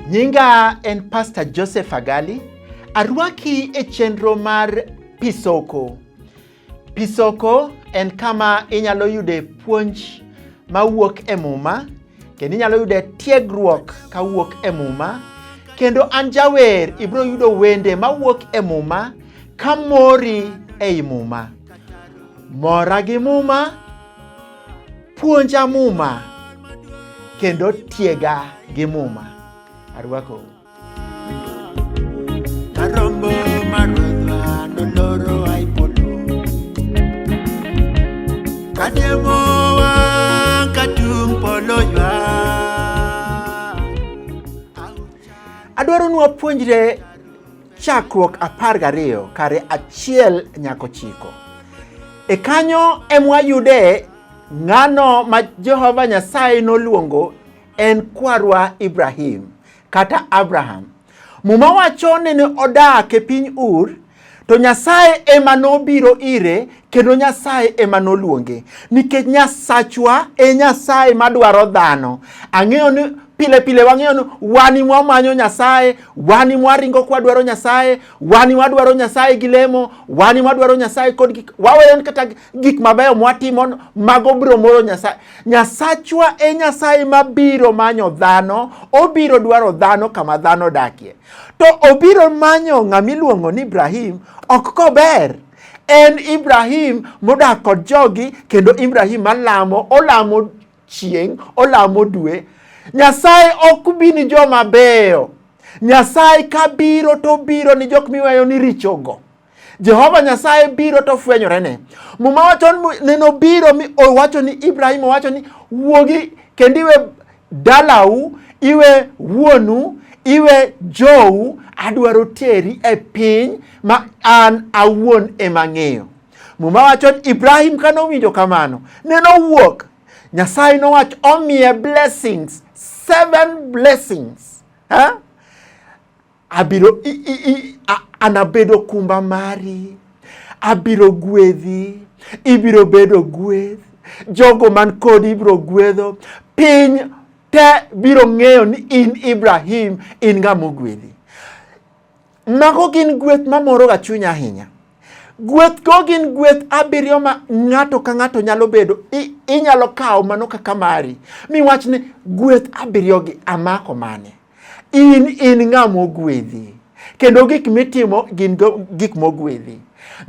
Nyinga en Pastor Joseph Agali. Arwaki e chenro mar Pisoko. Pisoko en kama inyalo yude puonj mawuok e Muma kendo inyalo yude tiegruok kawuok e Muma kendo an jawer ibiro yudo wende mawuok e Muma ka mori ei Muma. Mora gi Muma, puonja Muma kendo tiega gi Muma. Arwakou. Adwaro ni wapuonjre chakruok apar gariyo kare achiel nyako chiko. E kanyo emwayude ng'ano ma Jehova Nyasaye noluongo en kwarwa Ibrahim. kata Abraham. Muma wacho ni ne odak e piny Ur to Nyasaye ema nobiro ire kendo Nyasaye ema noluonge nikech Nyasachwa e Nyasaye madwaro dhano. Ang'eyo ni pile pile wang'eyo ni wani mwamanyo Nyasaye, wani mwaringo kwadwaro Nyasaye, wani mwadwaro Nyasaye gi lemo, wani mwadwaro Nyasaye kod gik waweyo kata gik mabeyo mwatimo mago biro moro Nyasaye. Nyasachwa e Nyasaye mabiro manyo dhano, obiro dwaro dhano kama dhano dakie. To obiro manyo ng'ama iluongo ni Ibrahim ok kober. En Ibrahim modak kod jogi kendo Ibrahim malamo, olamo chieng', olamo dwe. Nyasaye ok bi ni joma beyo. Nyasaye kabiro to obiro ni jok miweyo ni richogo. Jehova Nyasaye biro to fwenyorene. Muma wacho ni nobiro mi owacho ni Ibrahim owacho ni wuogi kendo iwe dalau, iwe wuonu, iwe jou, adwaro teri e piny ma an awuon ema ng'eyo. Muma wacho ni Ibrahim kane owinjo kamano, neno wuok. Nyasaye nowacho omiye blessings, seven blessings. Ha? Abiro i, i, i, a, anabedo kumba mari, abiro gwedhi, ibiro bedo gweth, jogo man kodi ibiro gwedho, piny te biro ng'eyo ni in Ibrahim in ng'ama ogwedhi. Mago gin gweth mamoroga chuny ahinya. Gweth go gin gweth abiriyo ma ng'ato ka ng'ato nyalo bedo, i- inyalo kawo mano kaka mari, miwach ni gweth abiriyogi amako mane? In in ng'a mogwedhi, kendo gik mitimo gin gik mogwedhi.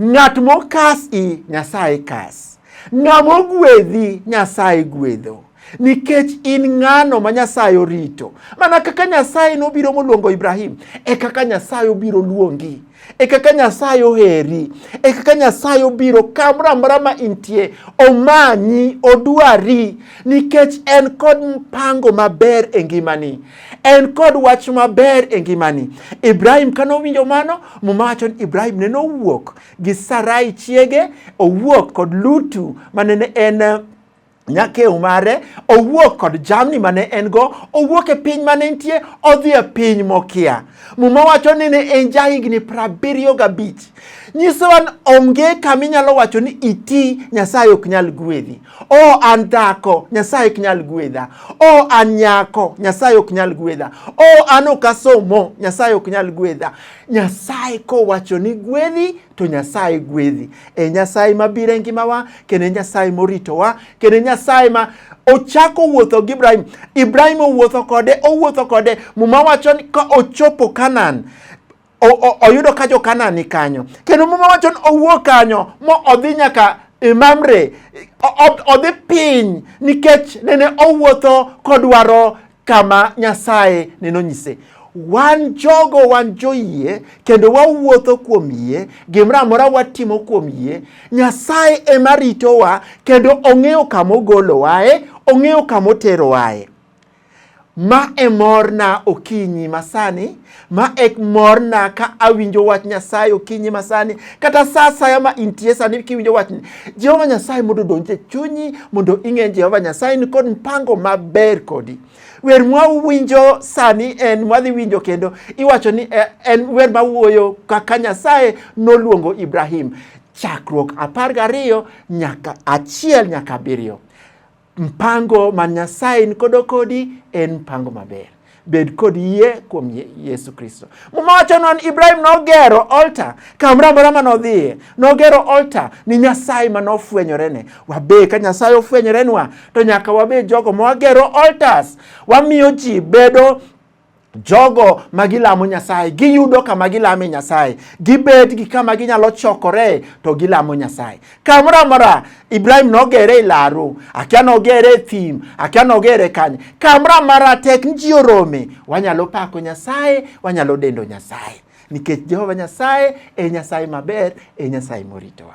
Ng'at mokas i Nyasaye kas, ng'a mogwedhi Nyasaye gwedho nikech in ng'ano ma Nyasaye orito. Mana kaka Nyasaye nobiro moluongo Ibrahim, e kaka Nyasaye obiro luongi. e kaka Nyasaye oheri, e kaka Nyasaye obiro kamoro amora ma intie, omanyi, odwari, nikech en kod mpango maber e ngimani, en kod wach maber e ngimani. Ibrahim kane owinjo mano, muma wacho ni Ibrahim ne nowuok gi Sarai chiege, owuok kod Lutu ma nene en nyakew mare owuok kod jamni mane en go owuok e piny mane nitie odhi e piny mokia muma wacho ni ne en jahigni prabiriyo gabich nyisowa ni onge kama inyalo wacho ni iti nyasaye ok nyal gwedhi o an dhako nyasaye ok nyal gwedha o an nyako nyasaye ok nyal gwedha o an ok asomo nyasaye ok nyal gwedha nyasaye kowacho ni gwedhi to Nyasaye gwedhi. E Nyasaye mabiro e ngimawa, kendo e Nyasaye moritowa, kendo e Nyasaye ma ochako wuotho gi Ibrahim. Ibrahim owuotho kode, owuotho kode. Muma wacho ni ka ochopo Kanaan, oyudo ka jo Kanaan ni kanyo. Kendo Muma wacho ni owuok kanyo mo odhi nyaka e Mamre, odhi piny nikech nene owuotho kodwaro kama Nyasaye ne nonyise. Wan jogo wan joyie kendo wawuotho kuom yie, gimoro amora watimo kuom yie. Nyasaye ema ritowa kendo ong'eyo kama ogolowae, ong'eyo kama oterowae. Ma e morna okinyi masani Ma ek morna ka awinjo wach Nyasaye okinyi masani kata sa asaya ma intie sani kiwinjo wachni. Jehova Nyasaye mondo odonj e chunyi mondo ing'e Jehova Nyasaye ni kod mpango maber kodi. Wer mwawinjo sani en mwadhi winjo kendo iwacho ni eh, en wer mawuoyo kaka Nyasaye noluongo Ibrahim chakruok apar gariyo nyaka achiel nyaka abiriyo. Mpango ma Nyasaye nikodo kodi en mpango maber. Bed kod yie kuom Yesu Kristo. Muma wacho non Ibrahim nogero altar kamoro amora ma nodhiye. Nogero altar ni Nyasaye ma nofwenyorene. Wabe ka Nyasaye ofwenyorenwa to nyaka wabe jogo ma wagero altars. Wamiyo ji bedo jogo ma gilamo Nyasaye giyudo kama gilame Nyasaye, gibet gi kama ginyalo chokore to gilamo Nyasaye. Kamoro amora Ibrahim nogere e laru, akia nogere e thim, akia nogere kanye. Kamoro amora tek ni ji orome, wanyalo pako Nyasaye, wanyalo dendo Nyasaye nikech Jehova Nyasaye e Nyasaye maber, e Nyasaye moritowa.